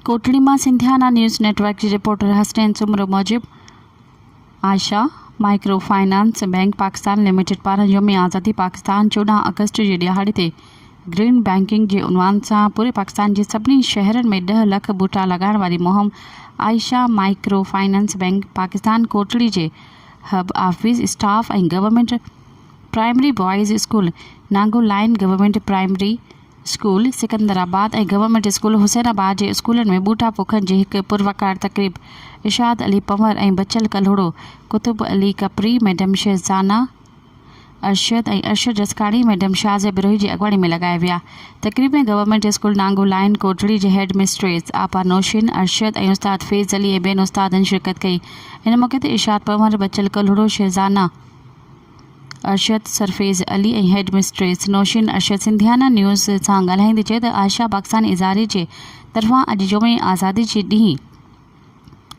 ڪوٽڙي مان Sindhiana news network جي reporter Hasnain Soomro موجب Ayesha micro finance bank Pakistan limited پاران يوم آزادي پاڪستان چوڏهن آگسٽ جي ڏهاڙي تي گرين بئنڪنگ جي عنوان سان پوري پاڪستان جي سڀني شهرن ۾ ڏهه لک ٻوٽا لڳائڻ واري مهم Ayesha micro finance bank Pakistan Kotri جي hub office staff ۽ government primary boys school Nango line, government primary school Sikandarabad ۽ government school Hussain Abad جي اسڪولن ۾ ٻوٽا پوکڻ جي هڪ پروقار تقريب ارشاد علي پنور ۽ بچل ڪلهوڙو، قطب علي ڪپري، ميڊم شهزانا ارشد ۽ ارشد رسڪاڻي، ميڊم شازيا بروهي جي اڳواڻي ۾ لڳائي ويا. تقريب ۾ government school Nango line Kotri جي هيڊ مسٽريس آپا نوشين ارشد ۽ استاد فيض علي ۽ ٻين استادن شرڪت ڪئي. ان موقعي تي Irshad Panhwar, Bachal Kalhoro, Shahzana. Arshad Sarfaraz Ali ۽ head mistress Nosheen Arshad Sindhiana news سان ڳالهائيندي چيو ته عائشه پاڪستان اداري جي طرفان اڄ جمعي آزادي جي ڏينهن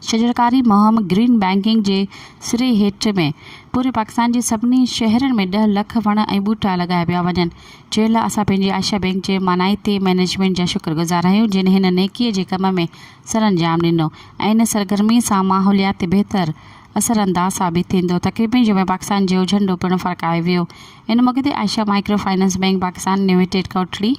شجرڪاري مهم گرين بئنڪنگ جي سري هيٺ ۾ پوري پاڪستان جي سڀني شهرن ۾ ڏهه لک وڻ ۽ ٻوٽا لڳايا پيا وڃن جنهن لاء اسان پنهنجي عائشه بئنڪ جي مانائتي مئنيجمينٽ جا شڪر گذار آهيون جن هن نيڪي جي ڪم ۾ سرانجام ڏنو ۽ ان سرگرمي سان ماحولياتي بهتر اثر انداز ثابت ٿيندو. تقريب ۾ جمعي پاڪستان جيو جهنڊو پڻ ڦرڪايو ويو. ان موقعي تي Ayesha micro finance bank Pakistan limited Kotri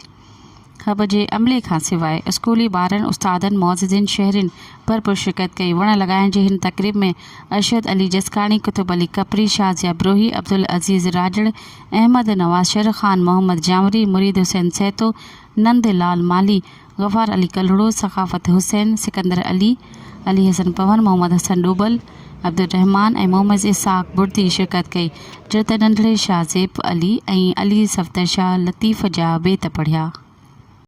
hub جي عملي کان سواء اسڪولي ٻارن، استادن، معززين شهرين ڀرپور شرڪت ڪئي. وڻ لڳائڻ جي هن تقريب ۾ ارشد علي جسڪاڻي، قطب علي ڪپري، شاهه ضياء بروهي، عبدالعزيز راڄڙ، احمد نواز شر، خان محمد جانوري، مريد حسين سهتو، نند لال مالهي، غفار علي ڪلهوڙو، ثقافت حسين، سڪندر علي، علي حسن پنهور، محمد حسن ڏوبل، عبدالرحمان ۽ محمد اسحاق بڙدي شرڪت ڪئي، جو ته ننڍڙي شاهه زيب علي ۽ علي صفدر شاهه لطيف جا بيت پڙهيا.